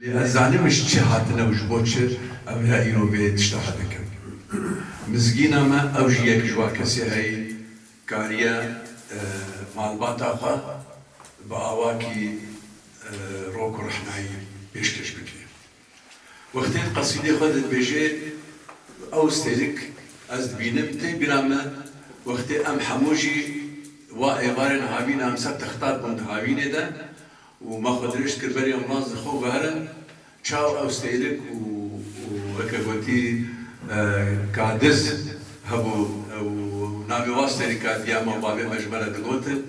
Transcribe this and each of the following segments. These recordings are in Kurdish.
Lê ez zanimiş çi hatine û ji bo çi em re îro vê tişta hedikin. Mizgîna me ew jî yek ji wan kesê heye kariye malbata xwe bi awakî rok û rexnayî pêşkêş bike. Wextê di qesîdê xwe de dibêje ew stêrk ez dibînim tê bîra me wextê em hemû jî wa êvarên havîn em ser texta bûn di havînê de Û ma xwe dirêj kir berî ambulans li xwe veherin. Çaw ew seylik û weke gotî ka diz hebû ew navê wan seylik ka diya ma bavê me ji me re digotin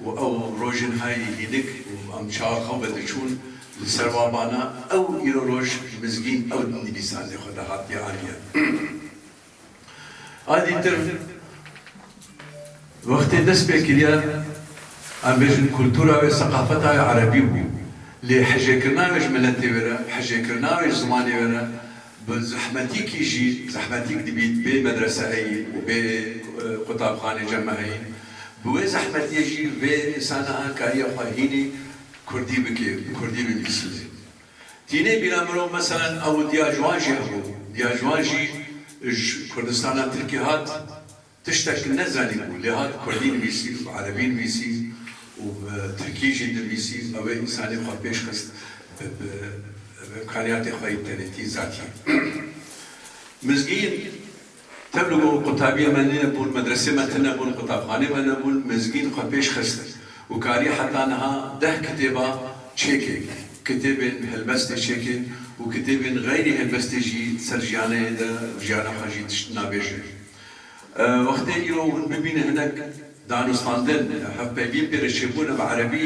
û ew rojên heyî hînik û em çawa xew ve diçûn li ser wa bana ew îro roj mizgîn ew dinivîsandê xwe de hatiye aniye. Alî Tim, Wextê dest pê kiriye em bêjin kultura wê, seqafeta wê erebî bû. Lê hijêkirina wê ji miletê wê re, hijêkirina wê ji zimanê wê re bi zehmetîkî jî zehmetîk dibît, bê medrese heyî û bê qutabxanê ceme heyî. Bi wê zehmetiyê jî vê insana an kariye xwe hînî kurdî bike, bi kurdî binivîsîne. Tî nê bîra mirov meselen ew diya ji wan jî hebû, diya ji wan jî ji Kurdistana Tirkî hat, tiştek nezanî bû lê hat Kurdî nivîsî û bi Erebî nivîsî û bi Tirkî jî nivîsî û ew ê însanî xwe pêş xist bi bi bi imkaniyatê xwe yî bi tenêtî zatî mizgîn. Tev li gor qutabiyê me nebûn, medresê me tune bûn, qutabxanê me nebûn, mizgîn xwe pêş xist û kariye heta niha deh kitêba çêkê, kitêbên helbestê çêkê û kitêbên xeyrî helbestê jî ser jiyaneyê de vijiyana xwe jî tişt nabêje. Wextê îro hûn bibîne hinek danûstandin ya hevpeyvîn pê re çêbûne bi erebî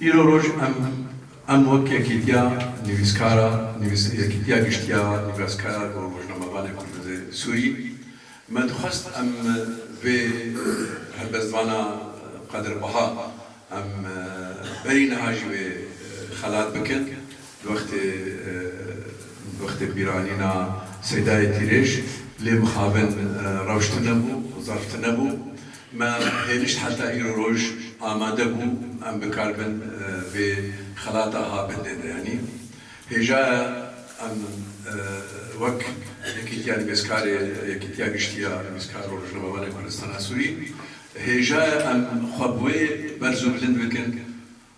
Îro roj em em wek Yekîtiya Nivîskara nivîs Yekîtiya Giştiya Nivîskar û Rojnamevanê Kurdizê Sûrî me dixwest em vê helbestvana Qadir Baha em berî niha jî wê xelat bikin di wextê di wextê bîranîna Seydayê Tîrêj lê mixabin rewş tune bû, zerf tune bû. Me hênişt heta îro roj amade bû em bi kar bin vê xelata habindên re yanî hêjaya em wek Yekîtiya Nivîskarê Yekîtiya Giştî ya Nivîskar û Rojnamevanên Kurdistana Sûrî hêjaya em xwe bi wê berz û bilind bikin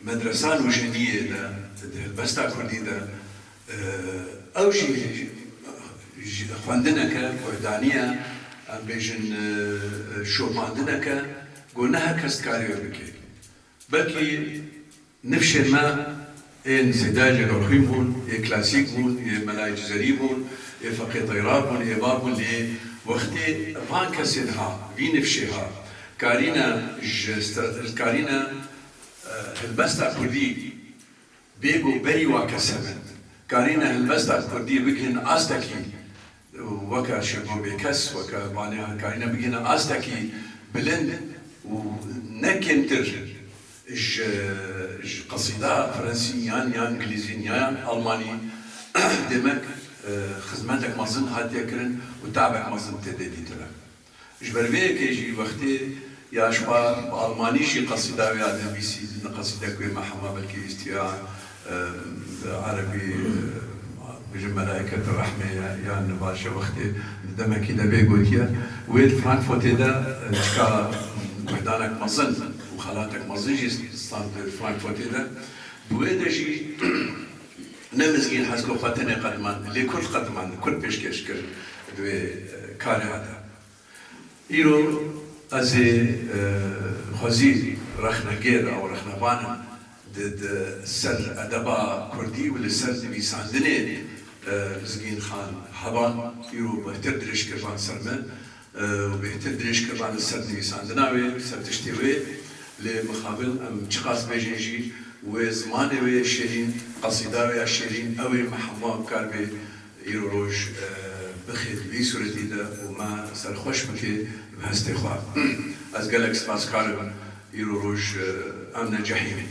Medresa Nûşeniyê de di helbesta kurdî de ew jî xwendineke kurdanî ye, em bêjin şopandineke ku ne her kes dikarî wê bike. Belkî nifşên me ên zêde yê dorxîn bûn, yê klasîk bûn, yê Melayê Cizerî bûn, yê Feqê Teyra bûn, yê va bûn lê wextê van kesên ha, vî nifşê ha, karîne ji karîne Helbesta kurdî bê ku berî wan kes hebe, karîne helbesta kurdî bigihîn astekî weke şêgo bêkes, weke vaniyan karîne bigihîne astekî bilind û ne kêmtir ji ji qesîda frensî yan ya ingilîzî ya yan almanî demek xizmetek mezin hatiye kirin û tavek mezin têdê dîtine. Ji ber vê yekê jî wextê ya ji xwe bi almanî jî qesîda wê ya nivîsî ne qesîde ku wê me hema belkê wîstiya bi erebî bêjin Melaîketû rehmê ye yan ne baş e wextê di demekî de vê gotiye wê di Frankfotê de çika meydanek mezin û xelatek mezin jî stand di Frankfotê de bi wê de jî Ne mizgîn hez ku xwe tenê qedimand, lê kurd qedimand, kurd pêşkêş kir di wê karê he de. Îro ez ê xwezî rexnegêr ew rexnevan im di di ser edeba kurdî û li ser nivîsandinê mizgîn xan heban îro bihtir dirêj kir van ser min û bêhtir dirêj kiriba li ser nivîsandina wê, li ser tiştê wê, lê mixabin em çiqas bêjin jî wê zimanê wê yê şêrîn, qesîda wê ya şêrîn ew ê me hemûa bikar bê îro roj bixê di vî sûretî de û me serxweş bike bi hestê xwe. Ez gelek spas kar im îro roj em ne cehîmîn.